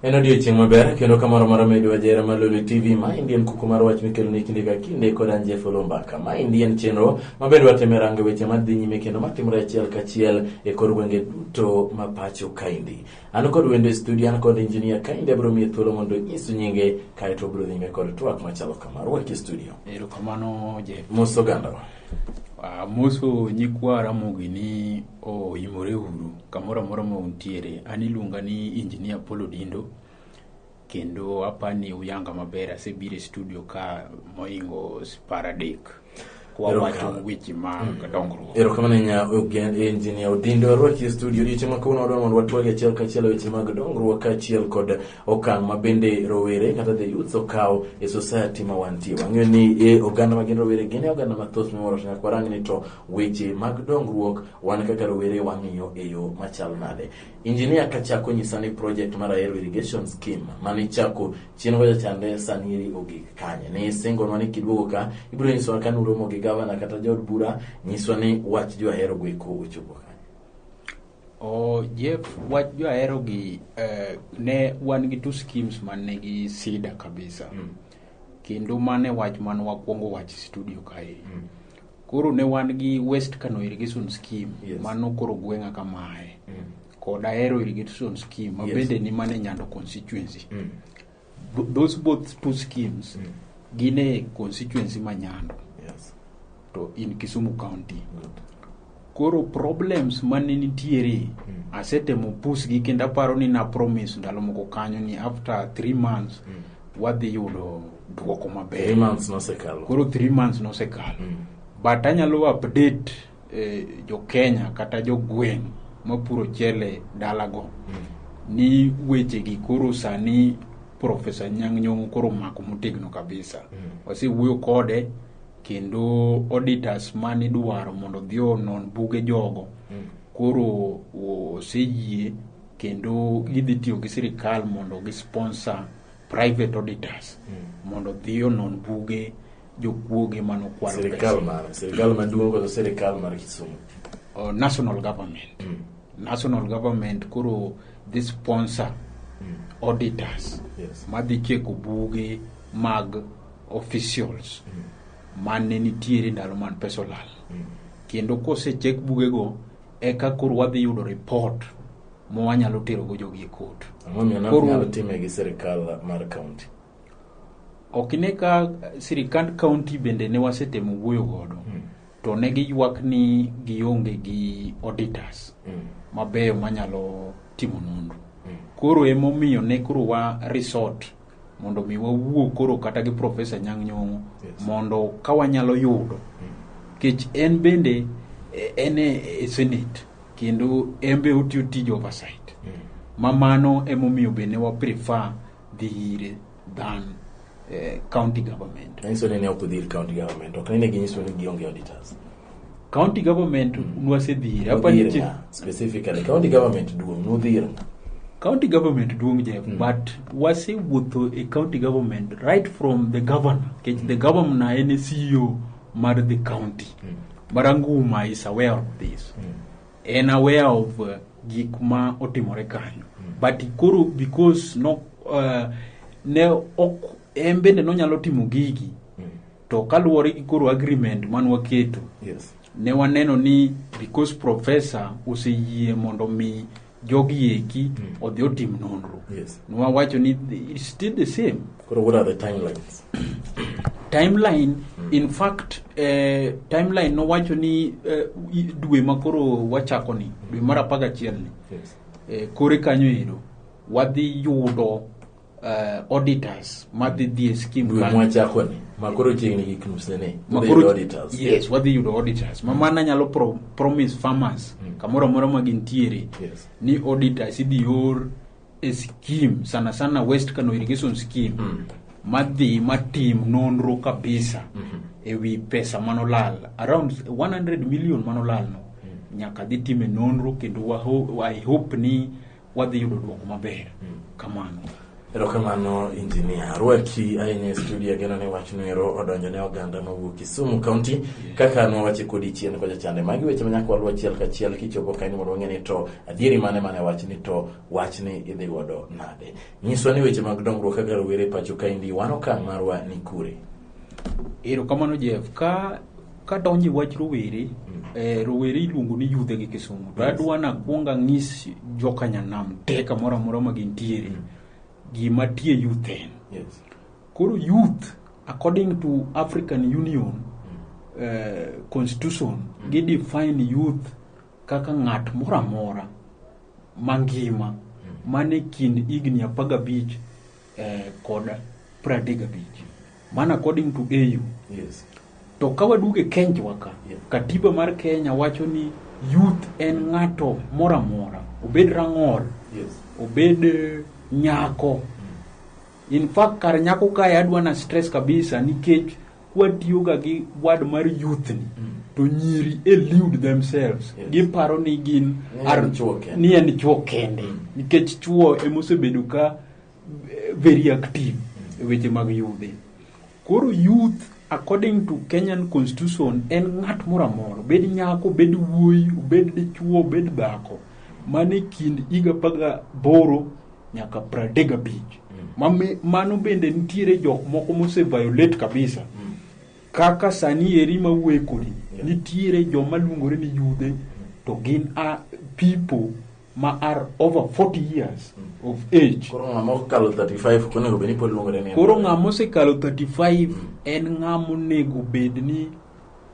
En odiechieng' maber kendo kamoro moro medo ajera mar Lolwe TV. Ma endi en kuku mar wach mikelo ni kinde ka kinde kod an Jeff Olombaka. Ma endi en chenro mabedo wateme rango weche madhi nyime kendo matimore achiel kachiel e kor gwenge duto ma pacho kaendi. An kod wendo e studio, an kod engineer kaendi abiro miye thuolo mondo onyisu nyinge kae to obiro nyime kod twak machalo kama. Rwaki e studio. Erokamano Jeff. Mos ogandawa. Ah, moso nyikwa Ramogi ni oimore uru kamoro amora ma untiere. An iluonga ni Engineer Paul Odindo. kendo apani uyanga maber asebiro e studio ka moingo paradek kwawacho weche ma dongruok erokamano nya engineer odindo arwaki e studio odiochieng' ma kawuono wadwa mondo watwagi achiel kachiel e weche mag dongruok kaachiel kod okang' ma bende rowere kata the youth okawo e society ma wantie wang'eyo ni e oganda ma gin rowere gin e oganda mathoth miwuoro to nyaka warang ni to weche mag dongruok wan kaka rowere wang'iyo e yo machal nade Injinia kachako nyisa ni project mar Ahero Irrigation Scheme mane ichako chien kocha chande sani eri ogik kanye. Ne isingonwa ni kiduogo ka ibiro nyiswa ka nuromo gi gavana kata jood bura nyiswa ni wach jo Ahero go eko ochopo kanye. O Jeff, wach jo Ahero gi eh, ne wan gi two schemes man nigi sida kabisa. Mm. Kendo mane wach man wakwongo wach studio kae. Mm. Koro ne wan gi West Kano Irrigation Scheme yes. mano koro gweng'a kamae mm. kod Ahero Irrigation Scheme ma yes. bende ni mane Nyando constituency mm. those both two schemes mm. gin e constituency ma Nyando yes. to in Kisumu County Good. koro problems mane nitiere mm. asetemo pusgi kendo aparo ni na promise ndalo moko kanyo ni after three months mm. wadhi yudo dwoko maber. Three months nosekalo. Koro three months nosekalo. Mm. But anyalo update eh, jo Kenya kata jo gweng' mapuro chele dalago mm. ni wechegi koro sani Profesa Nyang' Nyong'o koro omako motegno kabisa. Mm. Wasewuoyo kode kendo auditors mane idwaro mondo odhi onon buge jogo mm. koro oseyie kendo gidhi tiyo gi sirikal mondo gi sponsor private auditors mondo odhi onon buge jokuoge mane okwalo pesa. sirikal mar sirikal maduong' kod sirikal mar kisumu uh, national government national government koro dhi sponsor auditors Yes. madhi cheko buge mag officials mane nitiere ndalo man pesa olal kendo kosechek bugego eka koro wadhi yudo report ma wanyalo terogo jogi e kot. Ang'omiyo time gi sirikal mar kaunti? Ok ine ka sirikand kaunti bende ne wasetemo wuoyo godo. Hmm. To ne giywak ni gionge gi auditors hmm. mabeyo manyalo timo nonro. Hmm. Koro emomiyo ne koro wa resort mondo mi wawuo koro kata gi profesa nyang' nyong'o Yes. mondo ka wanyalo yudo kech en bende eh, en e e senate kendo en be otiyo tij oversight ma mano emomiyo bende wa prefer dhi ire than eh, county government Nanyiso ni ne ok udhi ir county government, ok ni ne ginyiso ni gionge auditors. county government nwasedhire apani chi specifically county government duong nudhir county government duong jeff mm. but wasewuotho e county government right from the governor kech mm. the governor en e ceo mar the county mm. maranguma is aware of this mm. en aware of uh, gik ma otimore kanyo mm. but koro because no uh, ne ok en bende nonyalo timo gigi To kaluwore gi koro agreement man waketo, yes. ne waneno ni because professor oseyie mondo mi jogi eki mm. odhi otim nonro. Yes. Nwawacho ni it's still the same. Koro what are the timelines? timeline mm. in fact eh, timeline nowacho ni eh, dwe ma koro wachako ni dwe mar apagachiel ni yes. eh, kore kanyo ero wadhi yudo uh, auditors madhi dhi e skim dwe kanyo. mwachako ni makoro chiegni gik nuse ni Ma Dhi koro- auditors yes wadhi yudo auditors ma mano nyalo pro, promise farmers Mm. kamoro amora ma gintiere Yes. ni auditors idhi or e scheme sana sana west kano irrigation scheme Mm. madhi matim nonro kabisa Mhm. e wi pesa manolal around 100 million manolal no nyaka dhi time nonro kendo waho- i hope ni wadhi yudo dwoko maber mm. kamano erokamano injinia arwaki ahinya e studio ageno ni wach noero odonjo ne oganda mawuok kisumu kaunti kaka nwawache kodi chien kocha chande magi weche manyaka waluw achiel kachiel kichopo kaini mondo wang'e ni to adieri mane mane wach ni to wach ni idhi godo nade nyiswa ni weche mag dongruok kaka rowere pacho kaindi wan okang' marwa ni kure Erokamano Jeff. Ka kadonje wach rowere mm. eh, rowere iluongo ni yudhe gi kisumu to adwa na kuonga ng'is jokanyanam te kamoro amora ma gintiere mm. gima tie youth en yes. koro youth according to african union mm. eh, constitution mm. gi define youth kaka ng'at moro amora mangima mm. mane kind higni apagabich eh, kod pradek gabich man according to au yes to ka waduogo e kenjwa ka Yeah. katiba mar kenya wacho ni youth en ng'ato moro amora obed rang'ol yes obed eh, nyako in fact kar nyako kae adwa na stress kabisa nikech kwatiyoga gi wad mar youth ni Mm. to nyiri elude themselves Yes. giparo ni gin Ni en chuo kende. ni en chuo kende nikech chuo emosebedo ka very active e weche mag yudhe. Koro youth according to Kenyan constitution en ng'at moro amora, obed nyako, obed wuoyi, obed dichuo, obed dhako, mane kind higa apar gaboro nyaka pradek gabich. Mame- Mano bende nitiere jok moko mose violate kabisa. Kaka sani eri ma wuoye kodi, nitiere joma luongore ni yudhe to gin a people ma are over 40 years of age koro ng'ama okalo 35 onego bed ni pod luongore ni koro ng'ama osekalo 35 en ng'ama onego bed ni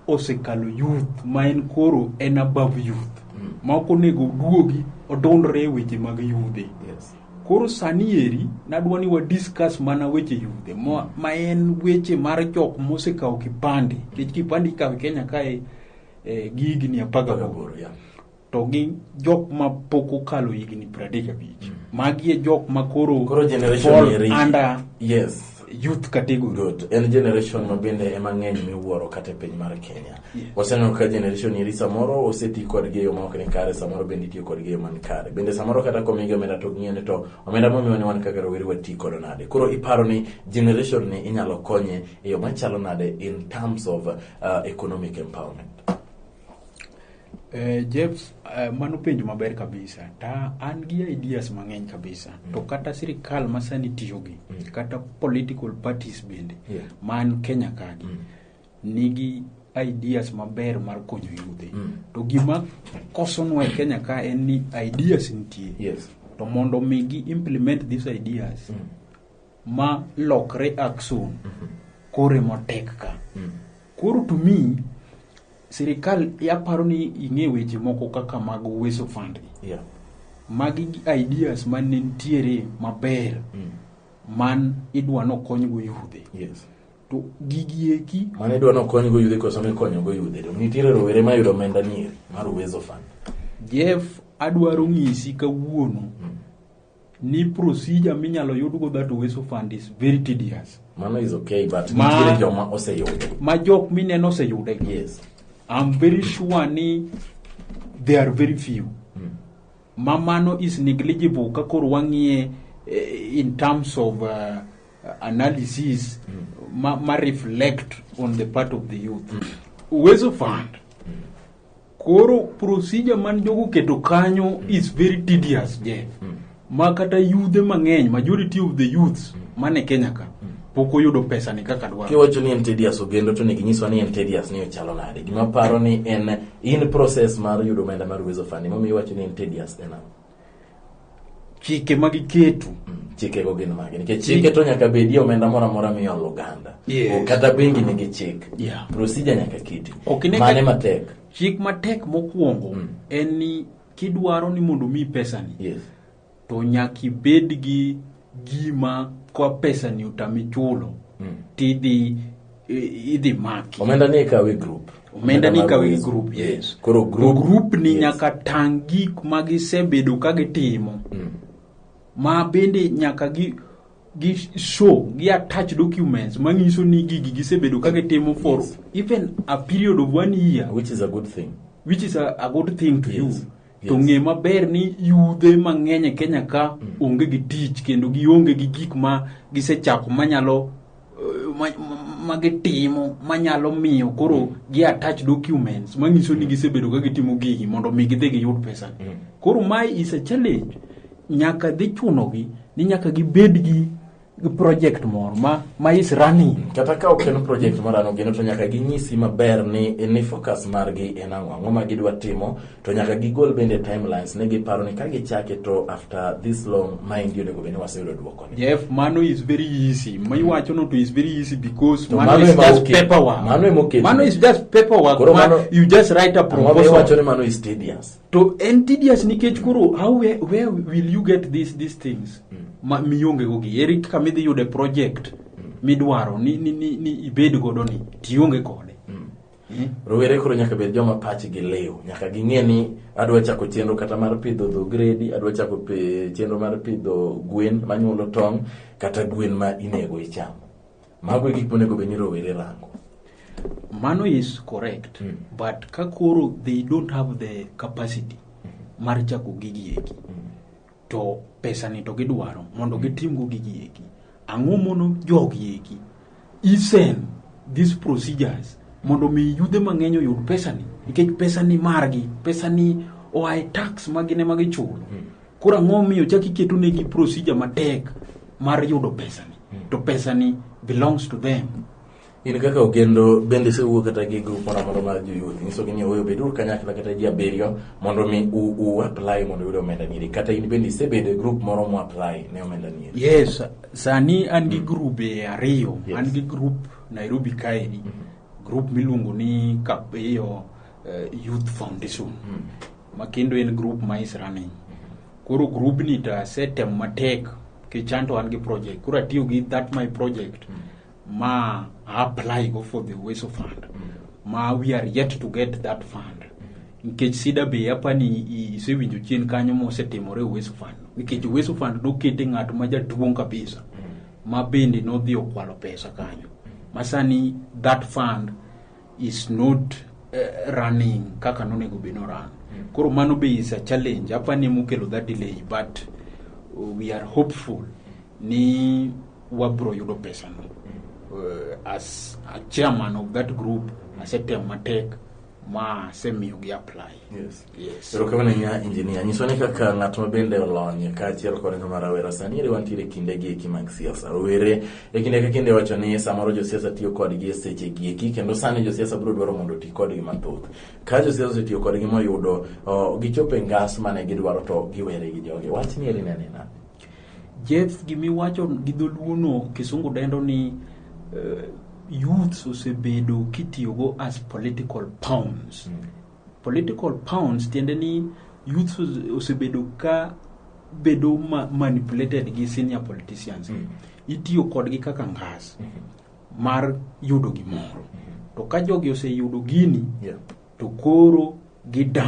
osekalo youth ma en koro en above youth Mm. ma ok onego oduogi odondre e weche mag yudhe yes koro sani eri nadwa ni wadiscuss mana weche yudhe ma, ma en weche mar jok mosekawo kipande nikech kipande ikawo e kenya kae eh, gi higni apar gaboro Agaboro, yeah. to gi jok ma pok okalo higni pradek abich mm. magi e jok ma koro under yes youth category good en generation ma bende ema ng'eny miwuoro kata e piny mar Kenya yeah. waseneno ka generation iri samoro oseti kod gi yo ma ok ni kare samoro bende itiyo kod gi yo man kare bende samoro kata komigi omenda to ng'iyone to omenda momiwa ni wan kaka rowere wati kod nade koro iparo ni generation ni inyalo konye e yo machalo nade in terms of uh, economic empowerment Eh, James, eh, mano penjo maber kabisa. Ta an gi ideas mang'eny kabisa. Mm. To kata sirikal ma sani tiyogi, mm. kata political parties bende, yeah. man Kenya kagi, mm. nigi ideas maber mar konyo yudhe. Mm. To gima kosonwa e Kenya ka en ni ideas nitie. Yes. To mondo mi gi implement these ideas, mm. ma lokre action, mm -hmm. kore motek ka. Mm. Koro to me, sirikal aparo ni ing'e weche moko kaka mag Uwezo Fund. Yeah. Magi gi ideas ma ne nitiere maber Mm. man idwa nokonygo yudhe. Yes. To gigi eki Mane idwa nokonygo yudhe koso mikonyogo yudhe. To nitiere rowere mayudo omenda nieri mar Uwezo Fund. Jeff adwaro ng'isi kawuono ni procedure minyalo yudgo that oweso fund is very tedious mano is okay but Ma- nitiere joma oseyudo ma jok mineno oseyude yes I'm very sure ni they are very few ma mano is negligible ka koro wang'iye eh, in terms of uh, analysis ma, ma reflect on the part of the youth Uwezo Fund Koro procedure man jogo keto kanyo is very tedious Jeff. Mm. Ma kata yudhe mang'eny, majority of the youths mm. man e Kenya ka, mm. pok oyudo pesa ni kaka dwaro. Kiwacho ni en tedious ogendo to nigi nyiswa ni en tedious ni ochalo nade. Gima paro ni en in process mar yudo omenda mar Uwezo Fund. Momiyo iwacho ni en tedious en ang'o? chike ma giketo chikego gin mage nikech chike to nyaka bedie omenda moro amora miolo oganda yes. kata bengi nigi chik yeah. procedure nyaka kiti okay, mane matek chik matek mokwongo mm. en ni kidwaro ni mondo mi pesani yes. to nyaka ibed gi gima kwa pesani otami chulo mm. tidhi idhi maki omenda ni ikawe group omenda ni ikawe gi group yes koro group, group ni yes. nyaka tang' gik ma gisebedo ka gitimo mm. ma bende nyaka gi gi show gi attach documents manyiso ni gigi gisebedo ka gitimo for yes. even a period of one year which is a good thing which is a, a good thing to yes. you to Yes. ng'e maber ni yudhe mang'eny e kenya ka onge gi tich kendo gionge gi gik ma gisechako manyalo eh, ma- ma- ma gitimo manyalo miyo koro gi attach documents manyiso ni gisebedo ka gitimo gigi mondo mi gidhi giyud pesa Mm. koro mae is a challenge nyaka dhi chunogi ni nyaka gibed gi project moro ma, ma is running kata ka ok en project mar ano gino to nyaka ginyisi maber ni ni focus margi en ang'o ang'o ma gidwa timo to nyaka gigol bende timelines ne giparo ni ka gichake to after this long maendi onego bed ni waseyudo dwokoni jeff mano is very easy ma iwachono to is very easy because To mano mano is ema just oket- paperwork mano ema oket- mano is just paperwork Koro ma mano- you just write a ang'o ma iwacho proposal ni mano is tedious to en tedious nikech koro how where, where will you get these, these things mm. ma miongego gi eri kaka midhi yude project mm. midwaro ni, ni, ni, ni ibed godo ni tionge kode mm. mm. rowere koro nyaka bed joma pachgi liw nyaka ging'e ni adwa chako chenro kata mar pidho dho gredi adwa chako chenro mar pidho gwen manyuolo tong' kata gwen ma inego ichamo Mago e gik monego bed ni rowere rango. Mano is correct mm. but ka koro they don't have the capacity mm. mar chako gigi eki mm. to pesa ni to gidwaro mondo hmm. gitimgo gigi eki ang'o mono jogi eki isen these procedures mondo mi yudhe mang'eny oyud pesa ni nikech pesa ni margi pesa ni oa e tax magine magichulo mm. Koro ang'o omiyo chak iketo negi procedure matek mar yudo pesani to pesani belongs to them in kaka ogendo bende isewuo kata gi grup moro amora mar joyuoth inyisogi ni oweyo beduru kanyakla kata ji abiriyo mondo mi u, u apply mondo uyud omenda nieri kata in bende isebedo e grup moro mo apply ne omenda nieri yes sani an gi grube ariyo Yes. an gi grup nairobi kaeni grup miluongo ni kapiyo uh, youth foundation mm. ma kendo en group ma is running koro group ni to asetem matek kichanto an gi project koro atiyo gi that my project mm. ma apply go for the ways of fund mm. ma we are yet to get that fund nikech sida be apa ni isewinjo chien kanyo mosetimore uweso fund nikech uweso fund nokete ng'at ma jaduong' kabisa mm. ma bende nodhi okwalo pesa kanyo masani that fund is not uh, running kaka nonego be no run mm. koro mano be is a challenge apa ni mukelo that delay but uh, we are hopeful ni wabro yudo pesa no mm. uh, as a chairman of that group mm. asetem matek ma asemiyo gi apply yes. Yes. Erokamano ahinya injinia. Nyiswa ni kaka ng'at ma bende olony kaachiel kod ng'ama rawera sani eri wantiere e kinde gi eki mag siasa. Rowere e kinde ka kinde wacho ni samoro josiasa tiyo kodgi e seche gi eki kendo sani josiasa biro dwaro mondo oti kodgi mathoth. Ka josiasa osetiyo kodgi moyudo oh, gichopo e ngas mane gidwaro to giwere gi jogi. Wach ni eri nene nade? Jeff gimiwacho gi dholuono kisungu dendo ni uh, youths osebedo kitiyogo as political pawns mm. Political pounds tiende ni youth osebedo ka bedo ma manipulated gi senior politicians mm. itiyo kodgi kaka ngas mm -hmm. mar yudo gimoro mm -hmm. to ka jogi oseyudo gini yeah. to koro gidan